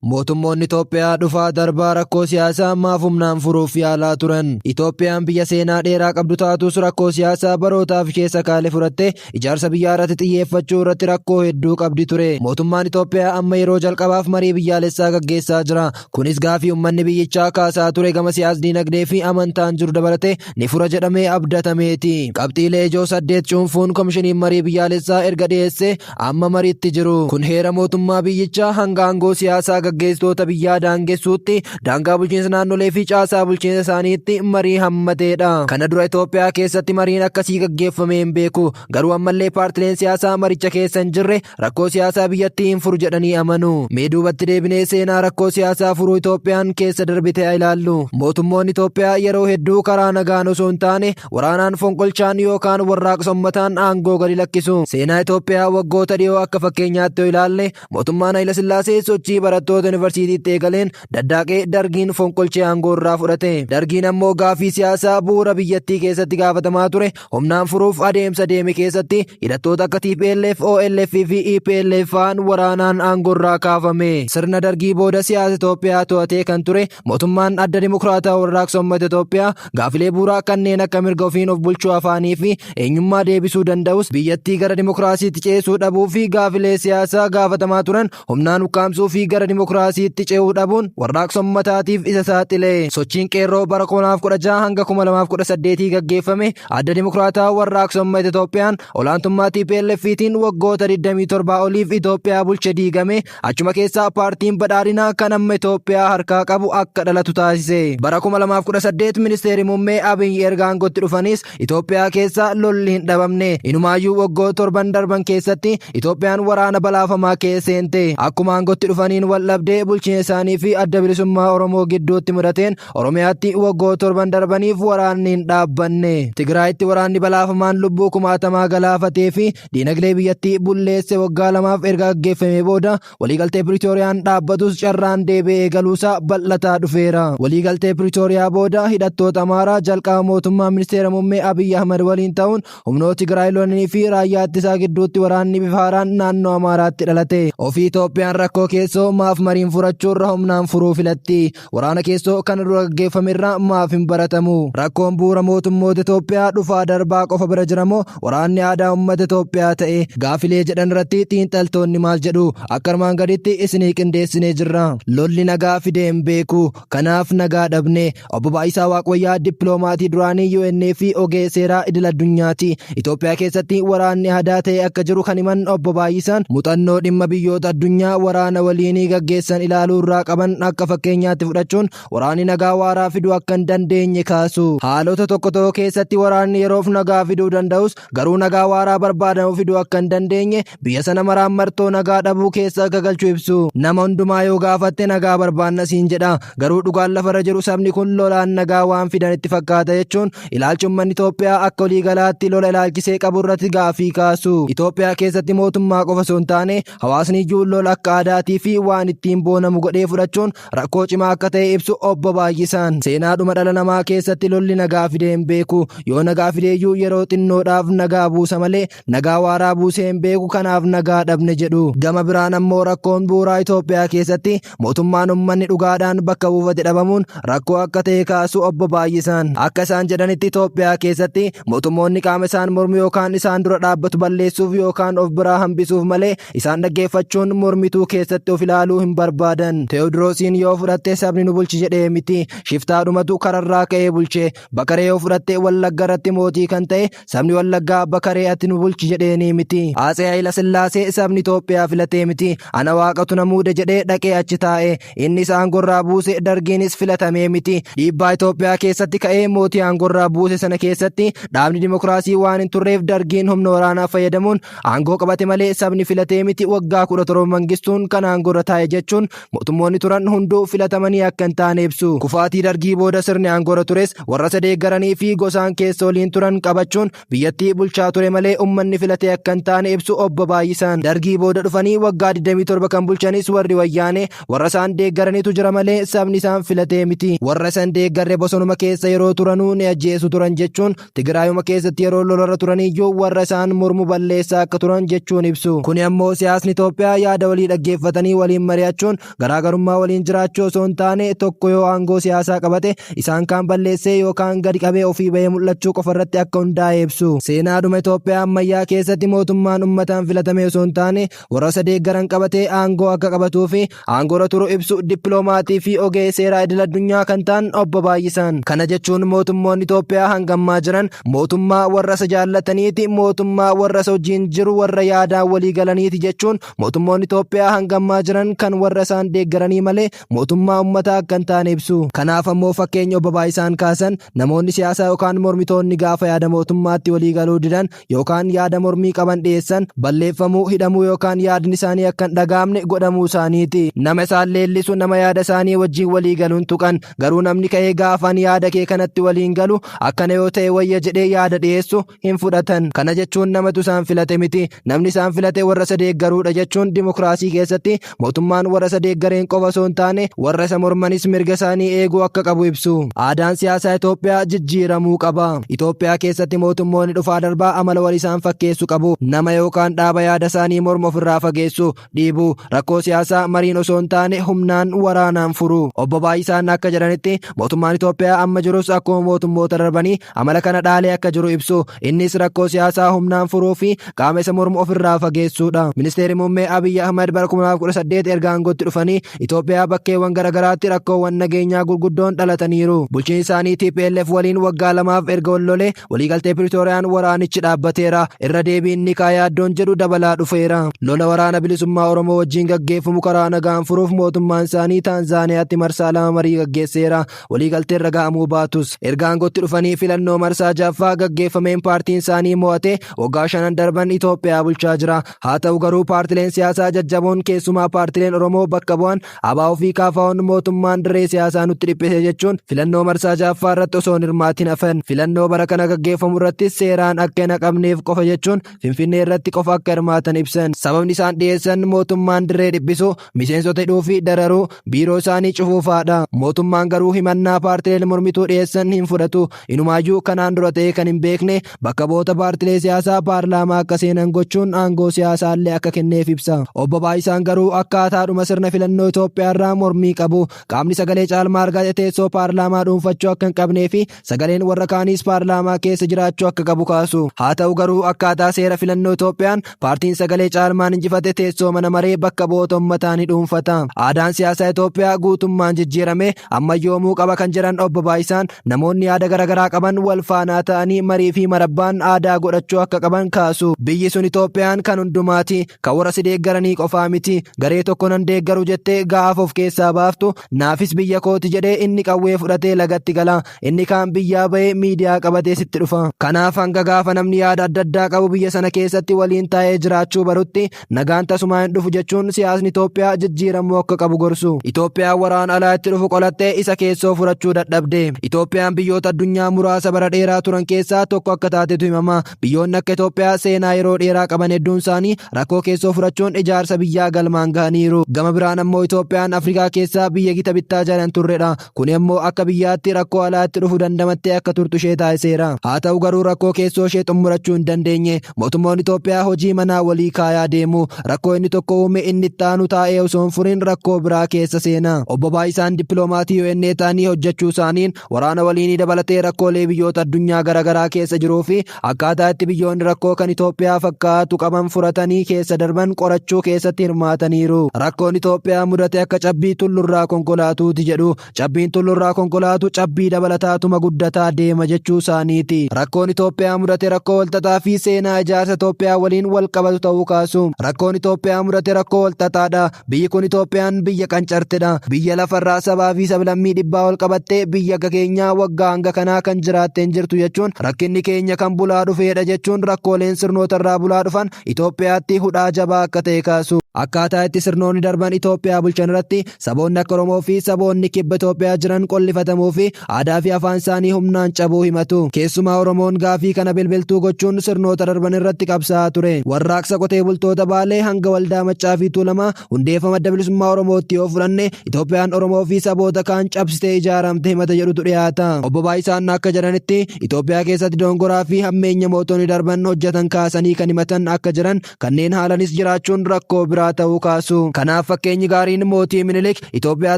Mootummoonni Itoophiyaa dhufaa darbaa rakkoo siyaasaa ammaaf humnaan furuuf yaalaa turan. Itoophiyaan biyya seenaa dheeraa qabdu taatus rakkoo siyaasaa barootaaf keessa kaale furattee ijaarsa biyyaa irratti xiyyeeffachuu irratti rakkoo hedduu qabdi ture. Mootummaan Itoophiyaa amma yeroo jalqabaaf marii biyyaalessaa gaggeessaa jira. Kunis gaafii uummanni biyyichaa kaasaa ture gama siyaas dinagdee fi amantaan jiru dabalatee ni fura jedhamee abdatameeti. Qabxiilee ijoo saddeet cuunfuun komishiniin marii biyyaalessaa erga dhiyeessee amma mariitti jiru. Kun heera mootummaa biyyichaa hanga aangoo siyaasaa gaggeessitoota biyyaa daangessuutti daangaa bulchiinsa naannolee fi caasaa bulchiinsa isaaniitti marii hammateedha. Kana dura Itoophiyaa keessatti mariin akkasii gaggeeffamee hin beeku. Garuu ammallee paartileen siyaasaa maricha keessa hin jirre rakkoo siyaasaa biyyattii hin furu jedhanii amanu. Mee duubatti deebinee seenaa rakkoo siyaasaa furuu Itoophiyaan keessa darbite haa ilaallu. Mootummoonni Itoophiyaa yeroo hedduu karaa nagaan osoo hin taane waraanaan fonqolchaan yookaan warraaqsa ummataan aangoo gadi lakkisu. Seenaa Itoophiyaa waggoota dhiyoo akka fakkeenyaatti yoo ilaalle Mootummaan Hayilasillaasee sochii barattoota yuunivarsiitiitti eegaleen daddaaqee dargiin fonqolchee aangoo irraa fudhate. Dargiin ammoo gaaffii siyaasaa bu'uura biyyattii keessatti gaafatamaa ture humnaan furuuf adeemsa deeme keessatti hidhattoota akka TPLF, OLF fi EPLF fa'aan waraanaan aangoo irraa kaafame. Sirna dargii booda siyaasa Itoophiyaa to'atee kan ture Mootummaan adda dimokiraataa warraaqsa uummata Itoophiyaa gaafilee buuraa kanneen akka mirga ofiin of bulchuu afaanii fi eenyummaa deebisuu danda'us biyyattii gara dimokiraasiitti ceesuu dhabuu fi gaafilee siyaasaa gaafatamaa turan humnaan ukkaamsuu fi gara dimokiraasiitti ce'uu dhabuun warraaqsa uummataatiif isa saaxile. Sochiin qeerroo bara 2016 hanga 2018 gaggeeffame adda dimokiraataa warraaqsa uummata Itoophiyaan olaantummaa TPLFtiin waggoota 27 oliif Itoophiyaa bulche diigame Achuma keessaa paartiin badhaadhinaa kan amma Itoophiyaa harkaa qabu akka dhalatu taasise. Bara 2018 ministeerri muummee Abiy erga aangootti dhufanis Itoophiyaa keessa lolli hin dhabamne. Inumaayyuu waggoo torban darban keessatti Itoophiyaan waraana balaafamaa kee seente. Akkuma aangootti dhufaniin wal dhabdee bulchiinsa isaanii fi adda bilisummaa Oromoo gidduutti mudateen Oromiyaatti waggoo torban darbaniif waraanni hin dhaabbanne. Tigraayitti waraanni balaafamaan lubbuu kumaatamaa galaafatee fi Diinagdee biyyattii bulleesse waggaa lamaaf erga gaggeeffamee booda waliigaltee Piriitooriyaan dhaabbatus carraan deebi'ee galuusaa bal'ataa dhufeera. Waliigaltee Piriitooriyaa booda hidhattoota Amaaraa jalqaba mootummaa ministeera muummee Abiy Ahmad waliin ta'uun humnoota Tigraay lolanii fi raayyaa ittisaa gidduutti waraanni bifa haaraan naannoo Amaaraatti dhalate. Ofii Itoophiyaan rakkoo keessoo maaf mariin furachuurra humnaan furuu filatti? Waraana keessoo kana dura gaggeeffame irraa maaf hin baratamu? Rakkoon bu'uura mootummoota Itoophiyaa dhufaa darbaa qofa bira jiramoo waraanni aadaa uummata Itoophiyaa ta'e gaafilee jedhan irratti xiinxaltoonni maal jedhu? Akka armaan gaditti isinii qindeessinee jirra. Lolli nagaa fidee hin beeku. Kanaaf nagaa dhabne. Obbo Baay'isaa Waaqwayyaa dippiloomaatii duraanii UN fi ogeessa seeraa idil addunyaati. Itoophiyaa keessatti waraanni hadaa ta'e akka jiru kan himan obbo Baay'isaan muuxannoo dhimma biyyoota addunyaa waraana waliinii gaggeessan ilaaluu irraa qaban akka fakkeenyaatti fudhachuun waraanni nagaa waaraa fiduu akka hin dandeenye kaasu. Haalota tokko tokko keessatti waraanni yeroof nagaa fiduu danda'us garuu nagaa waaraa barbaadamu fiduu akka hin dandeenye biyya sana maraan martoo nagaa dhabuu keessa akka galchu ibsu nama hundumaa yoo gaafatte nagaa barbaanna siin jedha garuu dhugaan lafarra jiru sabni kun lolaan nagaa waan fidan itti fakkaata jechuun ilaalchi ummanni Itoophiyaa akka olii galaatti lola ilaalchisee qabu irratti gaafii kaasu Itoophiyaa keessatti mootummaa qofa osoo hin taane hawaasni iyyuu lola akka aadaatii fi waan ittiin boonamu godhee fudhachuun rakkoo cimaa akka ta'e ibsu obbo Baay'isaan seenaadhuma dhala namaa keessatti lolli nagaa fidee hin beeku yoo nagaa fideeyyuu yeroo xinnoodhaaf nagaa buusa malee nagaa waaraa buusee hin beeku kanaaf nagaa dhabne jedhu. Gama biraan ammoo rakkoon bu'uuraa Itoophiyaa keessatti mootummaan ummanni dhugaadhaan bakka buufate dhabamuun rakkoo akka ta'e kaasu obbo Baay'isaan. Akka isaan jedhanitti Itoophiyaa keessatti mootummoonni qaama isaan mormu yookaan isaan dura dhaabbatu balleessuuf yookaan of biraa hambisuuf malee isaan dhaggeeffachuun mormituu keessatti of ilaaluu hin barbaadan. Teewodiroosiin yoo fudhatte sabni nu bulchi jedhee miti. Shiftaadhumatu kararraa ka'ee bulche. Bakaree yoo fudhatte wallagga irratti mootii kan ta'e Sabni Wallaggaa abba karee ati nu bulchi jedheenii miti. Atsee Hayila Sillaasee sabni Itoophiyaa filatee miti. Ana waaqatu na muude jedhee dhaqee achi taa'e. Innis aangorraa buuse dargiinis filatamee miti. Dhiibbaa Itoophiyaa keessatti ka'ee mootii aangorraa buuse sana keessatti dhaabni dimokiraasii waan hin turreef dargiin humna waraanaa fayyadamuun aangoo qabate malee sabni filatee miti waggaa kudha torba mangistuun kan aangorra taa'e jechuun mootummoonni turan hunduu filatamanii akka hin taane ibsu. Kufaatii dargii booda sirni aangoorra tures warra isa deeggaranii fi gosaan keessa waliin turan qabachuun biyyattii bulchaa ture malee ummanni filatee akka hin taane ibsu obbo Baay'isaan. Dargii booda dhufanii waggaa 27 kan bulchanis warri wayyaanee warra isaan deeggaranitu jira malee sabni isaan filatee miti. Warra isan deeggarre bosonuma keessa yeroo turanuu ni ajjeesu turan jechuun Tigraayuma keessatti yeroo lolarra turaniyyuu warra isaan mormu balleessaa akka turan jechuun ibsu. Kuni ammoo siyaasni Itoophiyaa yaada walii dhaggeeffatanii waliin mari'achuun garaagarummaa waliin jiraachuu osoo hin taane tokko yoo aangoo siyaasaa qabate isaan kaan balleessee yookaan gadi qabee ofii bahee mul'achuu qofa irratti akka hundaa'e ibsu. Seenaadhuma Itoophiyaa ammayyaa keessatti mootummaan ummataan filatame osoo hin taane warra isa deeggaran qabatee aangoo akka qabatuu fi aangoorra turu ibsu dippiloomaatii fi ogeessa seeraa idil addunyaa kan ta'an obbo Baay'isaan. Kana jechuun mootummoonni Itoophiyaa hanga ammaa jiran mootummaa warra isa jaallataniiti, mootummaa warra isa wajjin jiru warra yaadaan walii galaniiti jechuun mootummoonni Itoophiyaa hanga ammaa jiran kan warra isaan deeggaranii malee mootummaa ummataa akka hin taane ibsu. Kanaaf ammoo fakkeenya obbo Baay'isaan kaasan namoonni siyaasaa yookaan mormitoonni gaafa yaada mootummaatti walii galuu didan yookaan yaada mormii qaban dhiyeessan balleeffamuu, hidhamuu yookaan yaadni isaanii akka hin dhagaamne godhamuu isaaniiti. Nama isaan leellisu nama yaada isaanii wajjin walii galuun tuqan. Garuu namni ka'ee gaafaan yaada kee kanatti waliin galu akkana yoo ta'e wayya jedhee yaada dhiyeessu hin fudhatan. Kana jechuun namatu isaan filate miti. Namni isaan filate warra isa deeggaruudha jechuun dimokiraasii keessatti Mootummaan warra isa deeggareen qofa osoo hin taane warra isa mormanis mirga isaanii eeguu akka qabu ibsu. Aadaan siyaasaa Itoophiyaa jijjiiramuu qaba. Itoophiyaa keessatti mootummoonni dhufaa darbaa amala wal isaan fakkeessu qabu. Nama yookaan dhaaba yaada isaanii mormu ofirraa fageessu, dhiibu. Rakkoo siyaasaa mariin osoo hin taane humnaan waraanaan furu. Obbo Baay'isaan akka jedhanitti mootummaan Itoophiyaa amma jirus akkuma mootummoota darbanii amala kana dhaalee akka jiru ibsu. Innis rakkoo siyaasaa humnaan furuu fi qaama isa mormu ofirraa fageessuudha. Ministeerri Muummee Abiyyi Ahmad bara 2018 erga aangootti dhufanii Itoophiyaa bakkeewwan garaagaraatti rakkoowwan nageenyaa gurguddoon dhalataniiru. Bulchiinsi isaanii TPLF waliin waggaa lamaaf erga wal lolee waliigaltee Piriitooriyaan waraanichi dhaabbateera. Irra deebiin ni ka'a yaaddoon jedhu dabalaa dhufeera. Lola waraana bilisummaa Oromoo wajjin gaggeeffamu karaa nagaan furuuf mootummaan isaanii Taanzaaniyaatti marsaa lama marii gaggeesseera. Waliigalteen raga'amuu baatus erga aangootti dhufanii filannoo marsaa jaffaa gaggeeffameen paartiin isaanii mo'ate waggaa shanan darban Itoophiyaa bulchaa jira. Haa ta'u garuu paartileen siyaasaa jajjaboon keessumaa paartileen Oromoo bakka bu'an ABO fi KFO'n mootummaan dirree siyaasaa nutti dhiphise jechuun filannoo marsaa jaffaa irratti osoo hin hirmaatin hafan. Filannoo bara kana gaggeeffamu irratti seeraan akka hin haqamneef qofa jechuun Finfinnee irratti qofa akka hirmaatan ibsan. Sababni isaan dhiyeessan mootummaan dirree dhiphisu miseensota hidhuu fi dararuu biiroo isaanii cufuu fa'aadha. Mootummaan garuu himannaa paartileen mormituu dhiyeessan hin fudhatu. Inumaayyuu kanaan dura ta'ee kan hin beekne bakka bu'oota paartilee siyaasaa paarlaamaa akka seenan gochuun aangoo siyaasaallee akka kenneef ibsa. Obbo Baay'isaan garuu akkaataadhuma sirna filannoo Itoophiyaarraa mormii qabu. Qaamni sagalee caalmaa argate teessoo paarlaamaa dhuunfachuu akka hin qabnee fi Sagaleen warra kaaniis paarlaamaa keessa jiraachuu akka qabu kaasu. Haa ta'u garuu akkaataa seera filannoo Itoophiyaan paartiin sagalee caalmaan injifate teessoo mana maree bakka bu'oota ummataa ni dhuunfata. Aadaan siyaasaa Itoophiyaa guutummaan jijjiirame ammayyoomuu qaba kan jedhan obbo Baayisaan namoonni yaada garaagaraa qaban wal faanaa ta'anii marii fi marabbaan aadaa godhachuu akka qaban kaasu. Biyyi sun Itoophiyaan kan hundumaati. Ka warra si deeggaranii qofaa miti, garee tokko nan deeggaru jettee gaafa of keessaa baaftu, naafis biyya kooti jedhee inni qawwee fudhatee lagatti gala. Inni kaan biyyaa bahee miidiyaa qabatee sitti dhufa. Kanaaf hanga gaafa namni yaada adda addaa qabu biyya sana keessatti waliin taa'ee jiraachuu barutti nagaan tasumaa hin dhufu jechuun siyaasni Itoophiyaa jijjiiramuu akka qabu gorsu. Itoophiyaan waraana alaa itti dhufu qolattee isa keessoo furachuu dadhabde. Itoophiyaan biyyoota addunyaa muraasa bara dheeraa turan keessaa tokko akka taatetu himama. Biyyoonni akka Itoophiyaa seenaa yeroo dheeraa qaban hedduun isaanii rakkoo keessoo furachuun ijaarsa biyyaa galmaan gahaniiru. Gama biraan ammoo Itoophiyaan Afrikaa keessaa biyya gita bittaa jalan turredha. Kun immoo akka biyyaatti rakkoo alaatti dhufu dandamattee akka turtu ishee taasiseera. Haa ta'u garuu rakkoo keessoo ishee xumurachuu hin dandeenye. Mootummoonni Itoophiyaa hojii manaa walii kaayaa deemu. Rakkoo inni tokko uume inni itti aanu taa'ee osoo hin furin rakkoo biraa keessa seena. Obbo Baayisaan dippiloomaatii UNA ta'anii hojjechuu isaaniin Waraana waliinii dabalatee rakkoolee biyyoota addunyaa garaagaraa keessa jiruu fi akkaataa itti biyyoonni rakkoo kan Itoophiyaa fakkaatu qaban furatanii keessa darban qorachuu keessatti hirmaataniiru. Rakkoon Itoophiyaa mudate akka cabbii tullurraa konkolaatuuti jedhu. Cabbiin tullurraa konkolaatu cabbii dabalataatuma guddataa deema jechuu isaaniiti. Rakkoon Itoophiyaa mudate rakkoo walxaxaa fi seenaa ijaarsa Itoophiyaa waliin walqabatu ta'uu kaasu. Rakkoon Itoophiyaa mudate rakkoo walxaxaadha. Biyyi kun Itoophiyaan biyya qancartedha. Biyya lafarraa sabaa fi sablammii dhibbaa ol qabattee biyya akka keenyaa waggaa hanga kanaa kan jiraattee hin jirtu jechuun rakkinni keenya kan bulaa dhufeedha jechuun rakkooleen sirnootarraa bulaa dhufan Itoophiyaatti hudhaa jabaa akka ta'e kaasu. Akkaataa itti sirnoonni darban Itoophiyaa bulchan irratti saboonni akka Oromoo fi saboonni kibba Itoophiyaa jiran qollifatamuu fi aadaa fi afaan isaanii humnaan cabuu himatu. Keessumaa Oromoon gaafii kana bilbiltuu gochuun sirnoota darban irratti qabsaa'aa ture. Warraaqsa qotee bultoota Baalee hanga waldaa Maccaa fi Tuulamaa hundeeffama adda bilisummaa Oromootti yoo fudhanne Itoophiyaan Oromoo fi saboota kaan cabsitee ijaaramte himata jedhutu dhiyaata. Obbo Baayisaan akka jedhanitti Itoophiyaa keessatti doongoraa fi hammeenya mootonni darban hojjetan kaasanii kan himatan akka jiran kanneen haalanis jiraachuun rakkoo biraa ta'uu kaasu. Kanaaf fakkeenyi gaariin mootii Minilik Itoophiyaa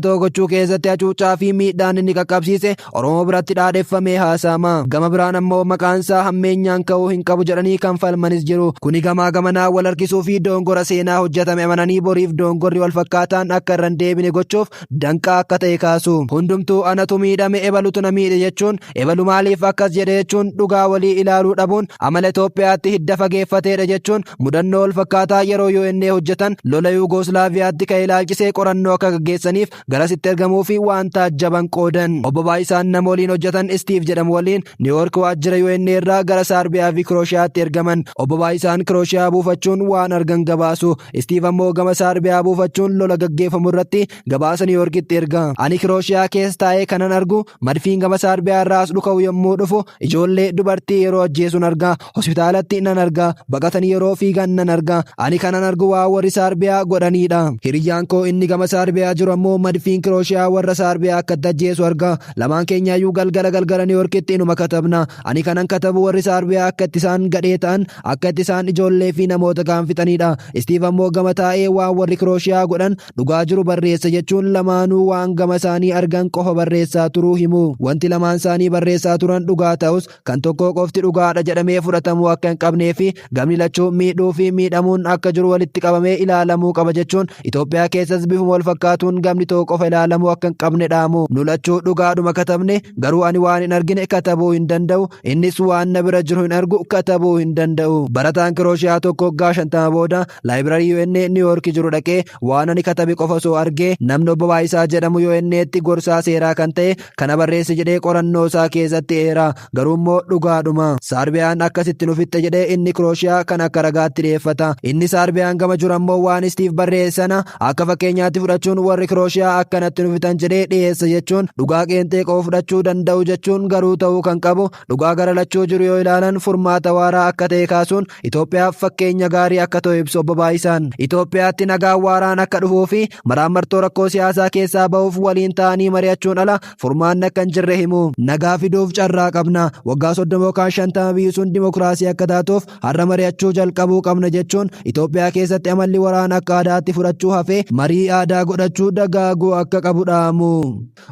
tokko gochuu keessatti hacuuccaa fi miidhaan inni qaqqabsiise Oromoo biratti dhaadheffamee haasa'ama. Gama biraan ammoo maqaansaa hammeenyaan ka'uu hin qabu jedhanii kan falmanis jiru. Kuni gamaa gamanaa wal harkisuu fi doongora seenaa hojjetame amananii boriif doongorri wal fakkaataan akka irra hin deebine gochuuf danqaa akka ta'e kaasu. Hundumtuu anatu miidhame ebalutu na miidhe jechuun ebalu maaliif akkas jedhe jechuun dhugaa walii ilaaluu dhabuun amala Itoophiyaatti hidda fageeffateedha jechuun mudannoo walfakkaataa yeroo UNA hojjetan lola Yuugooslaaviyaatti ka'e ilaalchisee qorannoo akka gaggeessaniif garasitti ergamuufi waan taajjaban qoodan. Obbo Baay'isaan nama waliin hojjetan Istiiv jedhamu waliin Niiwoork waajjira UNA irraa gara Saarbiyaafi Kirooshiyaatti ergaman. Obbo Baay'isaan Kirooshiyaa buufachuun waan argan gabaasu. Istiiv ammoo gama Saarbiyaa buufachuun lola gaggeeffamu irratti gabaasa Niiwuyoorkitti erga. Ani Kirooshiyaa keessa taa'ee kanan argu madfiin gama Saarbiyaa irraa as dhuka'u yommuu dhufu ijoollee dubartii yeroo ajjeesuun arga. Hospitaalatti nan arga. Baqatanii yeroo fiigan nan arga. Ani kanan argu waa warri Saarbiyaa godhaniidha. Hiriyyaan koo inni gama Saarbiyaa jiru ammoo madfiin Kirooshiyaa warra Saarbiyaa akkatti ajjeesu arga. Lamaan keenyaayyuu galgala galgala Niiwuyoorkitti inuma katabna. Ani kanan katabu warri Saarbiyaa akkatti isaan gadhee ta'an Akka itti isaan ijoollee fi namoota kaan fixaniidha. Istiiv ammoo gama taa'ee waan warri Kirooshiyaa godhan dhugaa jiru barreessa jechuun lamaanuu waan gama isaanii argan qofa barreessaa turuu himu. Wanti lamaan isaanii barreessaa turan dhugaa ta'us kan tokkoo qofti dhugaadha jedhamee fudhatamuu akka hin qabnee fi gamni lachuu miidhuu fi miidhamuun akka jiru walitti qabamee ilaalamuu qaba jechuun Itoophiyaa keessas bifuma wal fakkaatuun gamni tokko qofa ilaalamuu akka hin qabne dhaamu. Nu lachuu dhugaadhuma katabne garuu ani waan hin argine katabuu hin danda'u Innis waan na bira jiru hin argu katabuu hin danda'u. Barataan Kirooshiyaa tokko waggaa shantama booda laayibirarii UN Niiwuyoorki jiru dhaqee waan ani katabe qofa osoo argee namni obbo Baayisaa jedhamu UN'tti gorsaa seeraa kan ta'e kana barreessi jedhee qorannoo isaa keessatti eera. Garuu immoo dhugaadhuma. Saarbiyaan akkasitti nu fixxe jedhee inni Kirooshiyaa kan akka ragaatti dhiyeeffata. Inni Saarbiyaan gama jiru ammoo waan Istiif barreesse sana Akka fakkeenyaatti fudhachuun warri Kirooshiyaa akkanatti nu fitan jedhee dhiyeessa jechuun dhugaa qeenxee qofa fudhachuu danda'u jechuun garuu ta'uu kan qabu dhugaa gara lachuu jiru yoo ilaalan furmaata waaraa akka ta'e kaasuun Itoophiyaaf fakkeenya gaarii akka ta'u ibsu obbo Baay'isaan. Itoophiyaatti nagaa waaraan akka dhufuu fi maraammartoo rakkoo siyaasaa keessaa ba'uuf waliin ta'anii mari'achuun ala furmaanni akka hin jirre himu. Nagaa fiduuf carraa qabna. Waggaa soddoma yookaan shantama biyyi sun dimokiraasii akka taatuuf Har'a mari'achuu jalqabuu qabna jechuun Itoophiyaa keessatti amalli waraana akka aadaatti fudhachuu hafee marii aadaa godhachuu dagaaguu akka qabu dhaamu.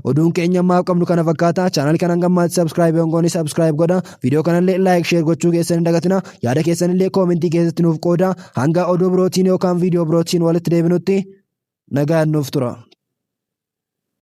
Oduun keenya ammaaf qabnu kana fakkaata. Chaanal kana hanga ammaatti sabskiraayib hin goone sabskiraayib godha. Viidiyoo kanallee laayik sheer gochuu keessan hin dagatina. Yaada keessanillee koomentii keessatti nuuf qooda. Hanga oduu birootiin yookaan viidiyoo birootiin walitti deebinutti nagaan nuuf tura.